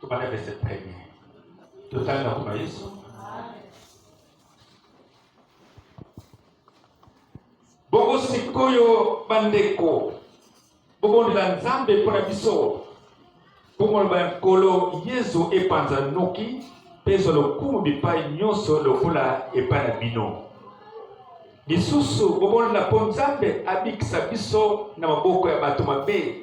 Tobanda verse premier. Totali na kuna Yesu. Bongo sikoyo bandeko, bobondela Nzambe mpo na biso. Bomoloba ya Nkolo Yesu epanza noki mpe ezwa lokumu bipai nyonso lokola epai na bino. Lisusu bobondela mpo Nzambe abikisa biso na maboko ya bato mabe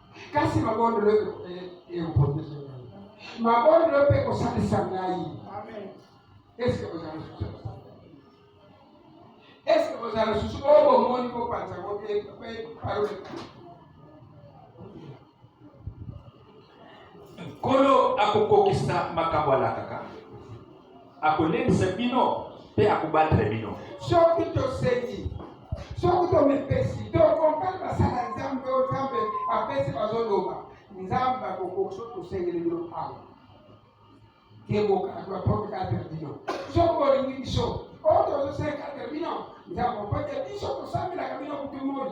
kasi mabondelo ekoprotege ngai mabondelo mpe ekosalisa ngai eske ozala susu eske ozala susu oyo oh, bomoni kopanza ngo mpe parole nkolo akokokisa makambo alakaka akolendisa bino mpe akobatela bino soki tosengi soki tomipesi tokompani basala nzambe oyo nzambe apesi bazoloba nzambe akokokisa tosengeli bino awa kebokaka baprofekatele bino soki bolingi biso oyo tozosenga tele bino nzambe opete biso tosambelaka bino kutu moi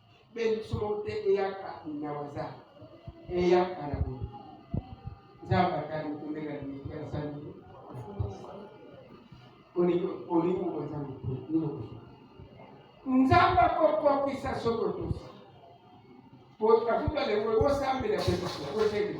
mpe lisolo te eyaka na waza eyaka na boye nzambe atali kombela limete asali olingi oza mokolo nzambe akokokisa soko tosi afuta lelo osambela mpe biso osengi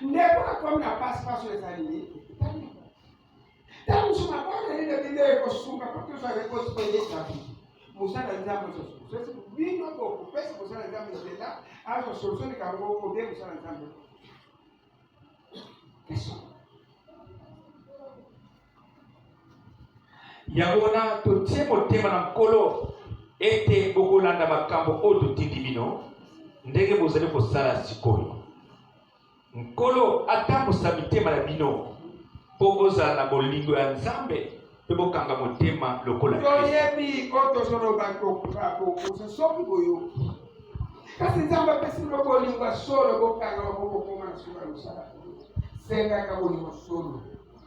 ndeko akomi na pasi pasi oyo ezali nini ntango mosusu mabanga nini bino ekosunga mpo tozala ekosipende tabi mosala nzambe sosi bino bokopesa mosala nzambe nzela azo solution likambo obie mosala nzambe question yango wana totie motema na nkolo ete bokolanda makambo oyo totindi bino ndenge bozali kosala sikoyo nkolo atambusa mitema na bino mpo bozala na bolingo ya nzambe mpe bokanga motema lokola toyebi oyo tozoloba kokosa soki boyoki kasi nzambe apesi bino bolingo ya solo bokanga bakokokoma na suka losala sengaka bolingo solo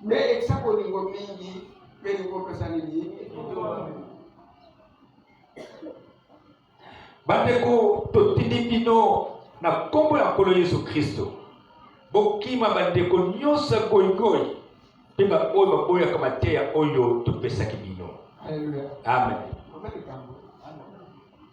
me ekisa bolingo mingi mpe likopesa nini bandeko totindi bino na nkombo ya nkolo yesu kristo bokima bandeko nyonso ya goigoi mpe baoyo baboyaka mateya oyo topesaki bino amen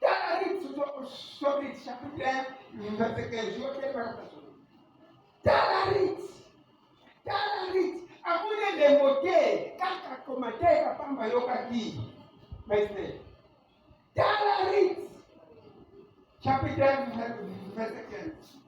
Tala Rite Tobit chapitre 1 verset 15 yo te mpaka tasolo. Tala Rite, tala Rite amoni elembo te kaka koma te kapamba ayokaki maisne. Tala Rite chapitre 1 verset 15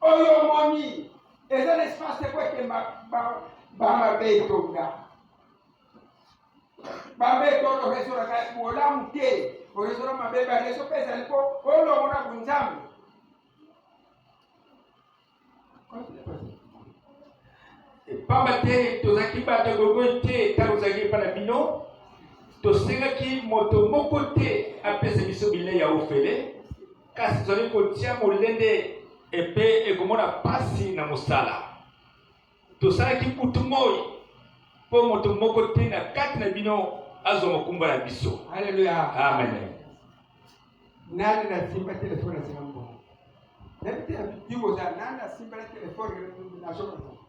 oyo omoni eza na espace te po ete bamabetonga babeto oyo oresolaka bolamu te oresola mabe bareso mpe ezali po olongo na bonzambe pamba te tozalaki bato ya gogoy te ntango tozalaki epai na bino tosengaki moto moko te apesa biso bilei ya ofele kasi tozali kotia molende epe ekomona pasi na mosala tosalaki kutu moi mpo moto moko te na kati na bino azwa mokumba na biso aleluya amen nani nasimba telefone asimba mbongo nayebi te yiko oza nani asimba na telefone nasokoa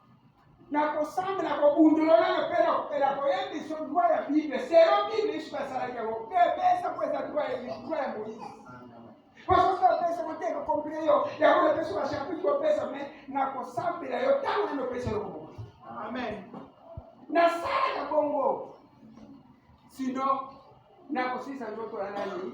na kosamba na kobundololana mpe na kopela koyebiso dwa ya bible selo bible yesu basalaki yango mpe epesa mpo eza dwa ya dwa ya moise basoso apesa koteka kompile yo yango napesa bashapitre opesa me na kosambela yo ntango nini opesa yo bongo amen nasalaka bongo sino nakosilisa nzoto ya nani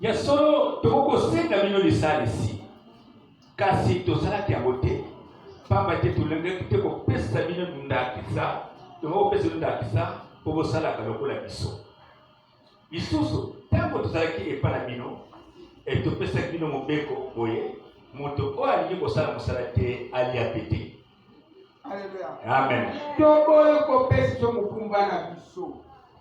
Ya solo, tokoki kosenga bino lisalisi, kasi tosalaki yango te, mpamba te tolingaki te kopesa bino ndakisa, tokoki kopesa bino ndakisa mpo bosalaka lokola biso. Lisusu, ntango tozalaki epai na bino, e, topesaki bino mobeko boye, moto oyo alingi kosala mosala te alia mpe te. Amen. Toboyi kopesa mokumba na biso.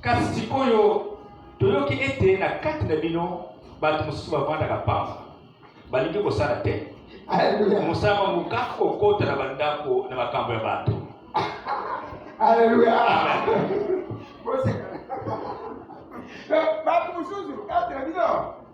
Kasi sikoyo toyoki ete na kati na bino bato mosusu bavandaka mpamba, balingi kosala te mosala mango kaka kokota na bandako na makambo ya bato. Aleluya! bato mosusu kati na bino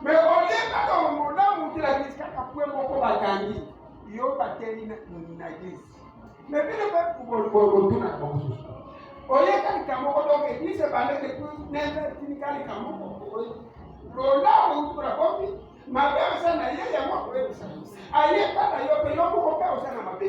me olie kaka omona moto elakisi kaka pwe moko bakangi yo bateli na eglise me bino mpe botuna bamosusu oyeka likambo moko donc eglise ebande depuis neve tinika likambo moko lola outura bobi mabe oza na ye yango akoyebisa ayeba na yo mpe yo moko mpe oza na mabe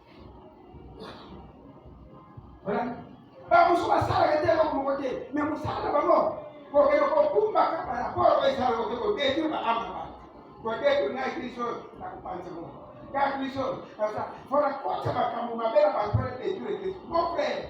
bamosusu basalaka te eloko moko te me mosala na bango kokende kokumba kaka na polo baesala koke kodetri baama bato kodetri na kristo na kopanza moko kaka kristo mpona kotya makambo mabe na bato na detri ekristo mon frere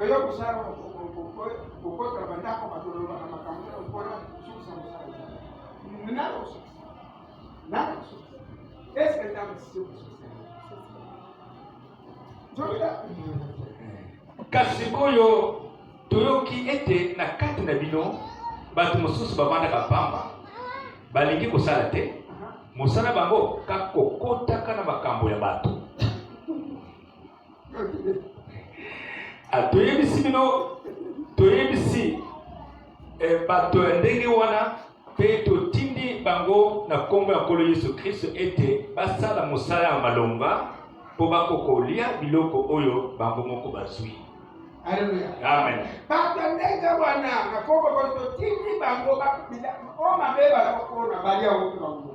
Oyo kusala kokota bandako batolobaka makambo na lokola sukusa mosala nako sukusa nako sukusa eske ntango sikosukusa nzobila kasi sikoyo toyoki ete na kati na bino bato mosusu bavandaka pamba balingi kosala te mosala bango kakokotaka na makambo ya bato Ah, toyebisi bino toyebisi eh, bato ya ndenge wana mpe totindi bango na nkombo ya nkolo yesu kristo ete basala mosala ya malonga mpo bakokolia biloko oyo bango moko bazwi amen bato ya ndenge wana na nkombo totindi bango o mabe balakokona balia wutu na ngo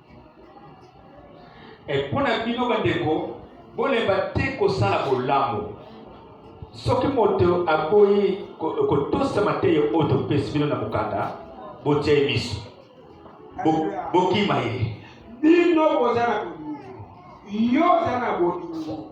E, mpo na bino bandeko, bolemba te kosala bolamu. Soki moto aboyi kotosa mateyo oyo topesi bino na mokanda, botia ye miso, bokima ye. Bino boza na bolingo, yo oza na bolingo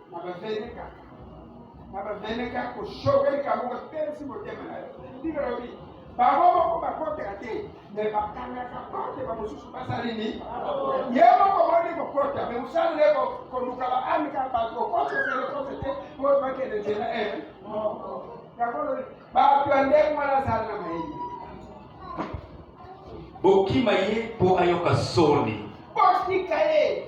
nabaveneka nabaveneka koshoka likambo kotelisi motema na yo ndenge lobi bango moko bakotela te me bakangaka porte bamosusu basali nini ye moko moni kokota me mosali nde koluka baamika bato okotoselekose te po bakende nzela e yango lobi bato ya ndenge wana azali na mayini bokima ye mpo ayoka soni botika ye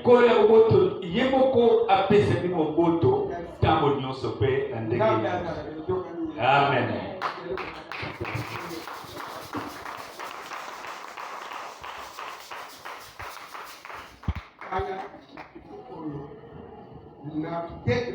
nkolo ya boboto ye moko apesaki moboto ntango nyonso mpe na ndenge amen na peut-être